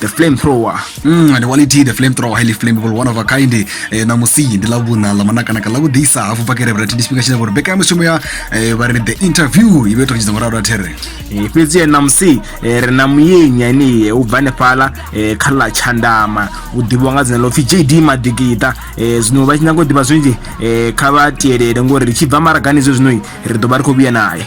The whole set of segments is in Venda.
the flame thrower mm, ndi waliti the flame thrower highly flammable one of a kind eh, na musi ndi la vhuna la manakanaka la vhudisa hafhu pakere vhati ndi tshifhinga tshine vhori mbekanyamushumo ya eh, vha ri the interview i vhe to tshidza murado a there Eh, fhedzi yena musi eh, ri na muyenya ene eh, u bva hanefhala eh, kha ḽa tshandama u ḓivhiwa nga dzina ḽo pfhi jd madigita eh, zwino vha tshi nyanga u ḓivha zwinzhi eh, kha vha tielele ngori ri tshi bva maragani zwe zwino ri ḓo vha ri khou vhuya naye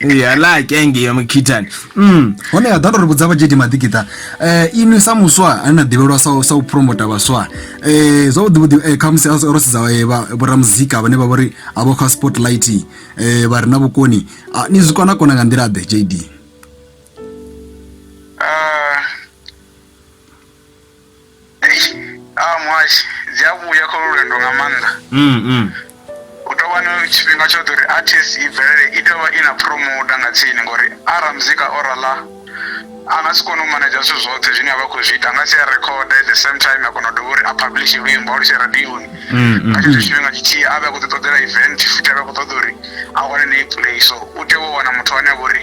yala ke engei ya mukhithani mm. hone ya ḓa ndo ri vhudza vhajedi maḓikiṱa um eh, inwi sa muswa ane na ḓivhelwa sa u promota vhaswa um zwavhuḓivhuḓi um khamusi ro sedza vhoramuzika vhane vha vho ri a vho kha spotlight um vha re na vhukoni ah, ni zwi kona kona nga nḓila ḓe jd a muhashi dzi a vhuya kha lu lwendo nga maanḓa mm, mm. u tou vha na tshifhinga tshoṱhe uri artist i bvelele i tea vha i na promoter nga tsini ngori ara muzika o rala a nga si kone u manager zwithu zwoṱhe zwine a vha khou zwi ita nga si a record at the same time a kona u dovha uri a publish luimbo a lutshee radioni mm, mm. nga tshetsho tshifhinga tshithihi a vhe a khou ḓi ṱoḓela event futhi a vhe a khou ṱoḓa uri a wane na i play so u tea u wana muthu ane a vha uri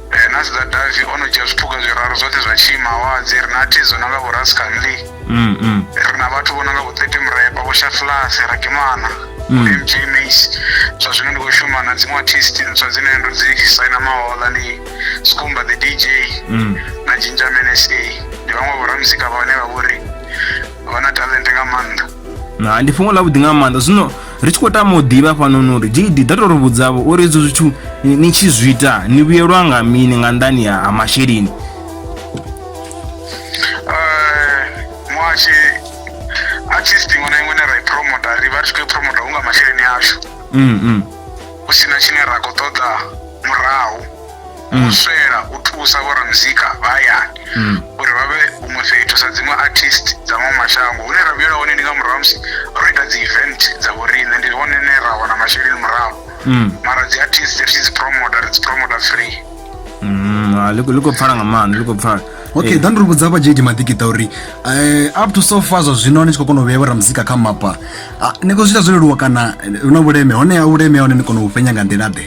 Eh, na sedza davi o no dzhia zwiphuga zwiraru zwoṱhe zwa tshiimawadzi ri na thi dzo no nga vho rascanley mm, mm. ri na vhathu vho no nga vho thirty mrepa vho shaflasi rakimana mm. mj mace zwa zwino ndi khou shuma na dziṅwe artist ntswa dzine ndo dzi saina mahola ndi skumba the dj mm. na ginger mnsa ndi vhaṅwe vhoramuzika vhane vha vhori vha na talente nga maanḓa na ndi fhungo ḽa vhuḓi nga maanḓa zwino ri tshi khou tama u ḓivha fhanoni uri gd ḓa tou ri vhudzavho uri izwo zwithu ni tshi zwi ita ni vhuyelwa nga mini nga nḓani ha masheleni muhashi artist iṅwe na iṅwe ne ra i promota ri vha ri tshi khou i promota hu nga masheleni ashu mm, mm. hu si na tshine ra khou ṱoḓa murahu mm. u swela u thusa vhoramuzika vha hayani mm. uri vha vhe huṅwe fhethu sa dziṅwe artist dza maṅwe mashango hune ra vhuyela hone ndi nga murahu musi ro ita dzi event dza vhoriṋe ndi hone ne ra wana masheleni murahu mm. mara dzi artist ri tshi dzi promota ri dzi promota free ah, ḽi khou pfala nga maanḓa ḽi khou pfala okay ḓa eh. ndi ri vhudza vha jd maḓikita uri eh, up to so far zwa zwino ni tshi khou kona u vhea vhora muzika kha mapa ah, ni khou zwi ita zwo leluwa kana hu na vhuleme honeha vhuleme hone ni kona u fhenya nga nḓila ḓe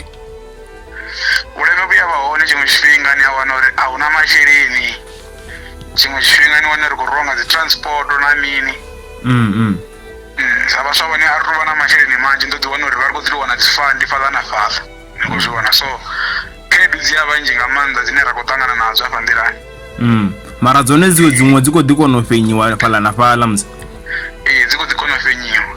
vhuleme vhu ya vha hone tshiṅwe tshifhinga ni a wana uri a huna masheleni tshiṅwe tshifhinga ni wane ri khou rwiwa nga dzi transport na mini mm, mm. mm sa vhaswa vhone a ri tou vha na masheleni manzhi ndo ḓi wana uri vha ri khou ḓi wana dzi fandi fhaḽa na fhaḽa ni khou zwi vhona so khaedu dzi a vhanzhi nga maanḓa dzine ra khou ṱangana nadzo afha nḓilani mm. mara dzone dziwe dziṅwe dzi khou ḓi kona u fenyiwa fhaḽa na fhaḽa musi ee dzi khou ḓi kona u fenyiwa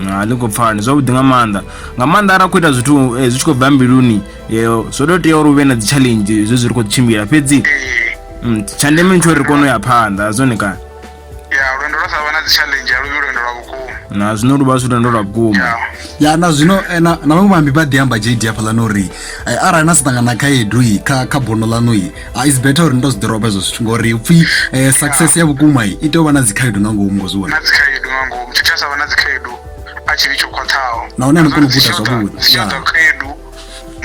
ha ḽi khou pfani zwavhuḓi nga maanḓa nga maanḓa arali khou ita zwithu eh, zwi tshi khou bva mbiluni yeo zwo tou tea uri hu vhe na dzi challenge zwe zwi ri khou tshimbila fhedzi mm, tsha ndeme ntsho ri kone u ya phanḓa zwone kana ya lwendo lwa sa vha na dzi challenge a luvhi lwendo lwa vhukuma na zwino lu vha zwi lwendo lwa vhukuma ya na zwino eh, na vhaṅwe vhambi vha ḓi amba jd hafhaḽani uri eh, arali na sa ṱangana khaedu kha kha bono ḽaṋu Ah, it's better uri ndo zwi ḓoroba hezwo zwithu ngori upfhi eh, success ya vhukuma i tea u vha na dzikhaedu nga ngomu ngo zwi vhona na dzikhaedu nga ngomu tshithu tsha sa vha na dzikhaedu a tshi vhi tsho khwaṱhaho Nahone a ni koni u guda zwavhuḓi. dzi tshiḓa Yeah. khaedu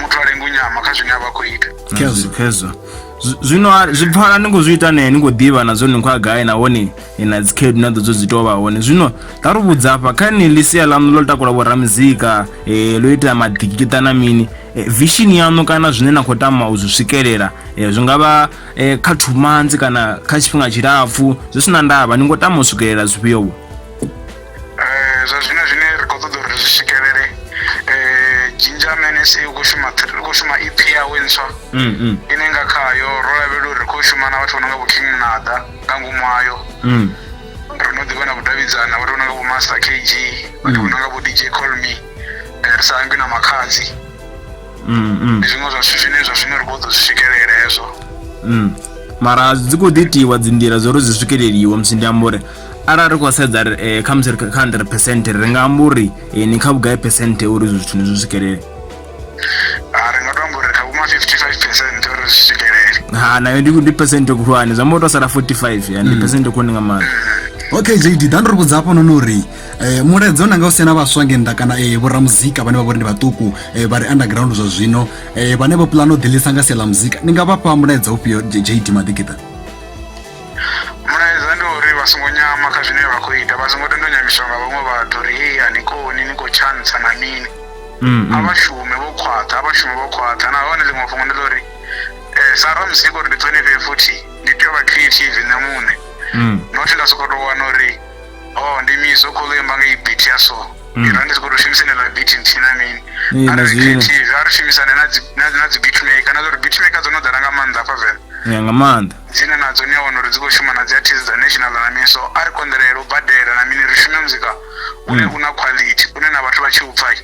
muthu a lenga u nyama kha zwine a vha khou ita Khezwo. khezwo Zwi- zwino a- zwi pfala ni khou zwi ita ne ni khou ḓivha na zwone ni khou ya gai nahone na dzikhaedu na ḓo dzo dzi tou vha hone zwino ḓa ri vhudza afha kha ni ḽi sia ḽaṋu ḽo takula vhoramuzika um eh, ḽo ita maḓikiṱa na mini eh, vishini yaṋu kana zwine na khou tama u zwi swikelela um zwi nga vha um kha thumanzi kana kha tshifhinga tshilapfhu zwi si na ndavha ni ngo tama u swikelela zwifhiovho Eh, zwa zwino zwine ri khou ṱoḓa uri ri zwi swikelele eh, ginger mnsa u khou shuma thr- u khou shuma ep yawe ntswa Mm, mm, ine nga khayo ro lavhelela uri ri khou shuma na vhathu vho no nga vho king munada nga ngomu hayo mm. ri no ḓivha na vhudavhidzani na vhathu vho no nga vho master kg vhathu vho no nga vho dj colme ri sa ambi na makhadzi mm, mm. ndi zwiṅwe zwa zwithu zwine zwa zwino ri khou ḓo zwi swikelela hezwo mm. mara dzi khou ḓi itiwa dzinḓila zwo uri zwi swikeleliwe musi ndi amba uri arali ri khou sedza eh, kha musi ri kha hundred percent ri nga amba uri eh, ni kha vhugai percent uri izwo zwithu ni zwi swikelele ah, ri nga to amba uri kha vhuma 55 percent uri zwi swikelele ha nayo ndi percent khulwane zwi amba uri to sala 45 ndi mm. percent khulwane nga maanḓa okay jd ḓa ndo ri vhudza hafho noni uri Eh, mulaedza u nanga u sena vhaswa nge nnḓa kana eh, vhoramuzika vhane vha vhori ndi vhaṱuku eh, vha ri underground zwa zwino vhane vho pulana u ḓilisa nga sia ḽa muzika ni nga vha fha mulaedza ufhio jd maḓikita mulaedza ndi uri vha songo nyama kha zwine vha khou ita vha songo tendo nyamiswa nga vhaṅwe vhathu uri hei a ni koni ni khou tshantsa na mini mm, mm. a vha shume vho khwaṱha a vha shume vho khwaṱha nahone ḽiṅwe fhungo ndi ḽa uri um sa ramuzika uri ndi ṱhonifhe futhi ndi tea u vha creative nṋe muṋe mm. nothi nda sokou tou wana uri oh ndi mi so khou imba nga ibit ya so Mm. ino ndi si khou tou shumisa ineḽa bit nthihi na mini Ee, na zwino. creative a ri shumisane na dzi- na- na dzi beat maker na zwauri beat maker dzo no ḓala nga maanḓa afha venḓa ya nga maanḓa dzine nadzo ni a wana uri dzi khou shuma na dzi artist dza national na mini so a ri konḓelele u badela na mini ri shume muzika une Mm. u na quality une na vhathu vha tshi u pfa i,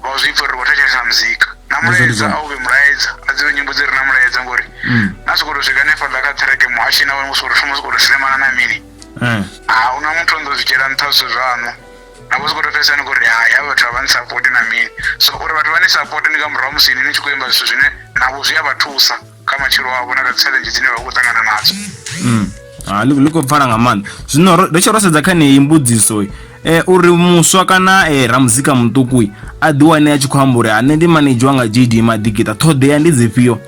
vha u zwi pfa uri vho thetshelesa muzika na Ndi zwone mulaedza zwone. a u vhe mulaedza a dzivhe nyimbo dzi re na mulaedza ngori Mm. na sokou tou swika hanefhaḽa kha ṱhereke muhashi na wone u sokou tou shuma u sokou tou silemana na mini hmm. a hu na muthu ndo zwi dzhiela nṱha zwithu zwaṋu na vho zwi khou to fhedzisa ni khou ri hai havha vhathu a vha ni sapoti na mini so uri vhathu vha ni sapoti ndi nga murahu musi ni ni tshi khou imba zwithu zwine navho zwi a vha thusa kha matshilo avho na kha challenge dzine vha khou ṱangana nadzo hmm. ah, ḽi khou pfala nga maanḓa zwino ro tshi ro sedza kha neyi mbudziso eh, uri muswa kana eh, ramuzika muṱuku a ḓiwane a tshi khou amba uri ane ndi manedzhi wanga jd maḓigita ṱhoḓea ndi dzifhio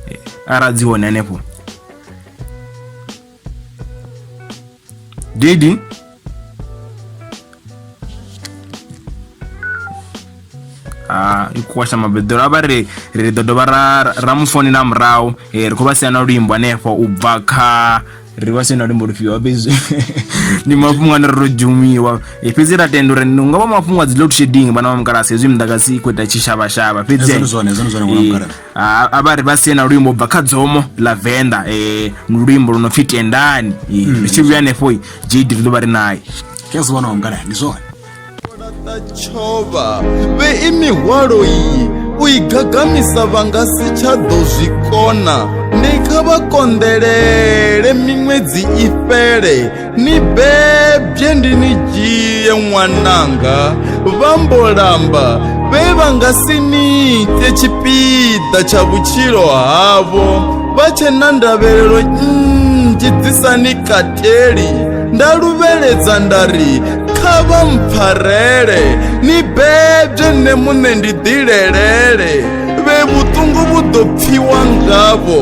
eh, ara dzi hone hanefho Didi. Ah, i khou washa mabeḓelo a vha ri ri ḓo dovha ra ra mu founela murahu eh, ri khou vha sia na luimbo hanefho u bva kha ri vha sia na luimbo lufhio fhedzi ndi mafhungo ane ro dzhumiwa Eh, fhedzi ra tenda uri ni nga vha mafhungo a dzi load shedding vhana vha mukalasi hezwi muḓagasi i khou ita tshishavhashava fhedzi Hezwo ndi zwone, hezwo ndi zwone, ṅwana wa Eh, mukalasi. Ah, a vha ri vha sie na luimbo bva kha dzomo ḽa venḓa um ndi luimbo lu no pfhi tendani Eh, Mm. ri tshi vhuya hanefho jd ri ḓo vha ri naye zwi a zwi vhona ungana ndi zwone tshova vhei mihwalo iyi u i gagamisa vha nga si tsha ḓo zwi kona ndi kha vha konḓelele miṅwedzi i fhele ni bebye ndi ni dzhie ṅwananga vha mbo lamba vhe vha nga si ni ite tshipiḓa tsha vhutshilo havho vha tshe na ndavhelelo nnzhi dzi sa ni kateli nda luvheledza nda ri kha vha mpfarele ni bebye nṋe muṋe ndi ḓilelele vhe vhuṱungu vhu ḓo pfiwa ngavho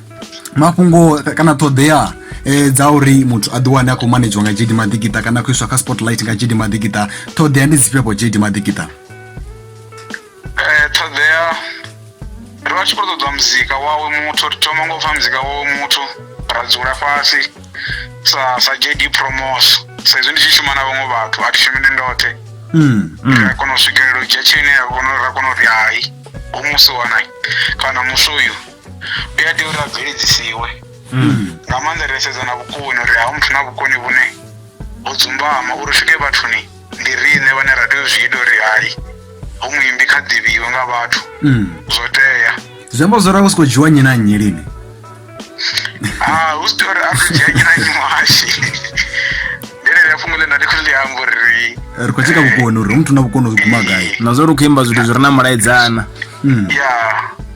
mafhungo kana ṱhoḓea eh, dza uri muthu a ḓiwane a khou manedziwa nga jd maḓikita kana a khou iswa kha spotlight nga jd maḓikita ṱhoḓea ndi dzifhio vho jd maḓikita eh, ṱhoḓea ri vha tshi khou ṱoḓa muzika wawe muthu ri thoma ngo pfa muzika wawe muthu ra dzula fhasi sa sa jd promos sa izwi ndi tshi shuma na vhaṅwe vhathu a thi shumi ndi ndoṱhe mm, mm. ra kona u swikelela u dzhia tshine ra kona uri hai u musi wanai kana musi uyu u a tea uri a bveledzisiwe nga maanḓa ri sedza na vhukoni uri ha muthu na vhukoni vhune ho dzumbama uri swike vhathuni ndi riṋe vhane ra tea u zwi ita uri hai hu muimbi kha ḓivhiwe nga vhathu Mm. zwo tea zwi amba zwo rango siko dzhiwa nnyi na nnyi lini Ah, hu si tea uri a ri dzhia nnyi na nnyi muhashi ndi ḽeḽia fhungo ḽe nda ndi khou ḽi amba uri ri khou tsheka vhukoni uri hu muthu na vhukoni u guma gai na zwa uri u khou imba zwithu zwi re na mulaedzana Mm. ya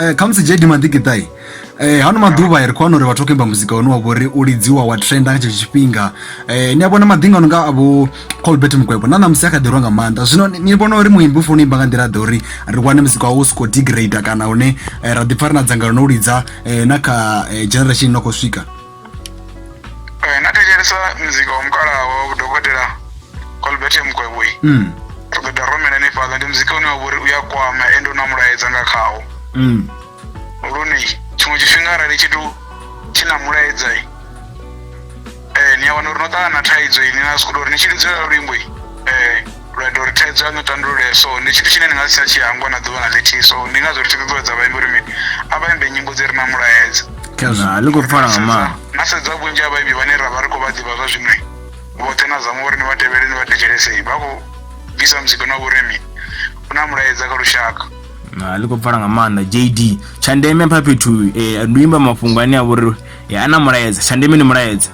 Eh, khamusi jedi maḓikiṱai eh, hano maḓuvha ri khou wana uri vhathu vha khou imba muzika une wa vhori u lidziwa wa trenda nga tshetsho tshifhinga eh, ni a vhona maḓinga ano nga avho colbert mukwebo na ṋamusi a kha ḓirwa nga maanḓa zwino ni vhona uri muimbi u funa u imba nga nḓila ḓe uri ri wane muzika wawo u si khou degrade kana hune ra ḓipfa ri na dzangalelo no u lidza na kha generation ino khou swika Eh, natecheresa mzika wamkala wa dokotela colbert mkwebui mm. togeda romela ni fhaḽa ndi muzika une wa vhori u ya kwama ende u na mulaedza nga khawo Mm. lune tshiṅwe tshifhinga arali tshithu tshi na mulaedza i eh, ni a wana uri no ṱangana na thaidzo ini na sikuda uri ni tshi lidzelela luimbo i eh, Lwa ita uri thaidzo yaṋu i tandulee, so ndi tshithu tshine ni nga si tsha tshi hangwa na ḓuvha na ḽithihi. So ndi ngazwo ri tshi ṱuṱuwedza vhaimbi uri mini, a vha imbe nyimbo dzi re na mulaedza. Khazwo ḽi khou pfala nga maanḓa. Na sedza vhunzhi ha vhaimbi vhane ra vha ri khou vha ḓivha zwa zwino, vhoṱhe na zama uri ni vha tevhele ni vha thetshelese, vha khou bvisa muzika na vhuri mini, u na mulaedza kha lushaka. Ah, ḽi khou pfala nga maanḓa jd tsha ndeme pha fhethu eh, ndi u imba mafhungo ane a vha uri eh, a na mulaedza tsha ndeme ndi mulaedza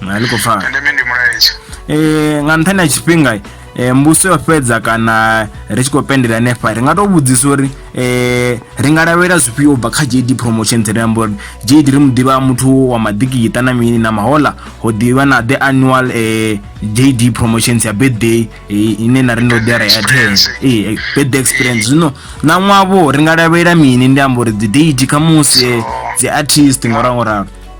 a ḽi khou pfala tsha ndeme ndi mulaedza Eh, nga nṱhani ha tshifhinga eh, mbuso yo fhedza kana ri tshi khou pendela hanefha ri nga tou vhudzisa uri eh, ri nga lavhelela zwifhio u bva kha jd promotions ri amba uri jd ri mu ḓivha muthu wa maḓikiṱa na mini na mahola ho ḓivha na the annual eh, jd promotions ya birthday eh, ine na ri ndo ḓi ara ya ten Experience. eh, eh, birthday experience zwino na ṅwavho ri nga lavhelela mini ndi amba uri dzi date khamusi eh, dzi artist ngauralo ngauralo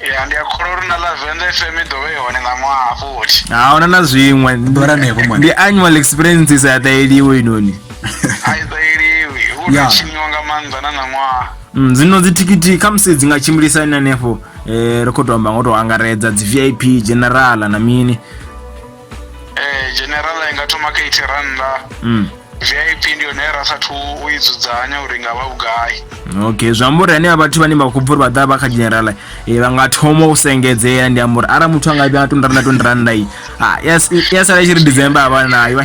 ya ndi a kholwa uri na lavenda fm i ḓovha i hone nga ṅwaha futhi ahuna na zwiṅwe Ndo ranevho mwana. ndi annual experiences a ṱaeliwe inoni a i ṱaeliwi hu Ya. no tshiniwa nga maanḓa na na ṅwaha Mm, zwino dzithikhithi khamusi dzi nga tshimbilisa ini hanefho um ri khou tou amba ngo tou angaredza dzi vip general na mini eh, general i nga thoma kha eighty rannda mm. vip ndi yone ra sathu u i dzudzanya uri nga vha vhugai okay zwi amba uri anea vhathu vhane vha khou bva uri vha ḓa vha kha general e eh, vha nga thoma u sengedzea ndi amba uri arali muthu a nga vhia twenty rannda twenty rannda i ah, ya sala i tshi ri december a vha nayo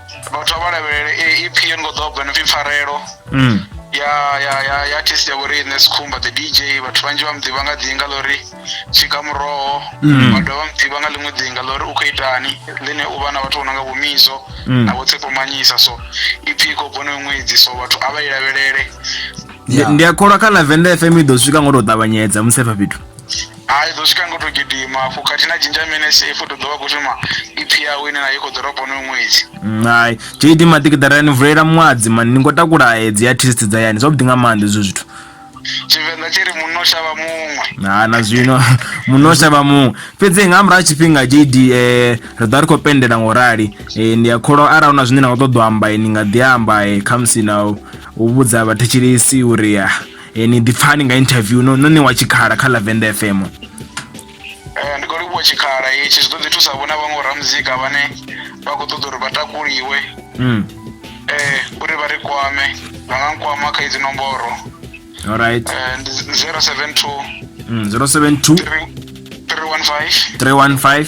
vhathu vha lavhelele eh, ep yo ngo ḓoba no pfi pfarelo mm. ya ya ya ya artist ya vhoriṋe sikhumba the dj vhathu vhanzhi vha muḓivha nga ḓinga ḽori tshika muroho mm. vha dovha muḓivha nga ḽiṅwe ḓinga ḽori u khou itani ḽine u vha na vhathu vho no nga vhomizo mm. na vho tsepomanyisa so ep i khou bono ṅwedzi so vhathu a vha i lavhelele ndi a kholwa kha lavenda fm i ḓo swika ngo tou ṱavhanyedza musi efha fhethu Hai ḓo swika ngo to gidima afho khathihi na dzhinja mene safe u to ḓovha khou shuma ipfi yawe ine na i khou ḓo ropa onoyo ṅwedzi hai jd maḓikiḓara ni vulela muadzi mani ni ngo takula edzi ya test dza yani zwavhuḓi nga maanḓa ezwo zwithu tshivenḓa tshi ri munna o shavha muṅwe ha na zwino muno shavha muṅwe fhedzi nga murahu ha tshifhinga jd eh, ri ḓo vha ri khou pendela ngo rali eh, ndi a kholo arali hu na zwine na khou ṱoḓa u amba eh, ni nga ḓi amba eh, khamusi na u u vhudza vhathetshelesi uri ah, Eh, ni ḓipfani nga interview no no ṋewa tshikhala kha lavenda fm Eh, ndi khou livhuwa tshikhala itshi zwi ḓo ḓi thusa vhona vhaṅwe ramuzika vhane vha khou ṱoḓa uri vha takuliwe mm. eh, uri vha ri kwame vha nga nkwama kha idzi nomboro alright eh, ndi 072 mm. 072 315 315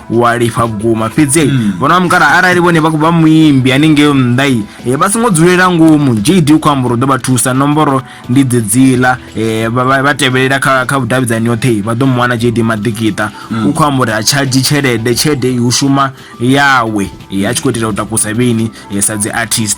walifha vhukuma fhedzi mm. vhona mukala arali vhone vha khou vha muimbi haningeo nnḓai e, vha songo dzulela ngomu jd u khou amba uri u ḓo vha thusa nomboro ndi dzedziḽa e, vha- vha vha tevhelela kha kha vhudavhidzani yoṱhe vha ḓo mu wana jd maḓikita u khou amba uri ha tshadzhi tshelede tshelede i u shuma yawe e, a tshi khou itela u takusa vheni e, sa dzi artist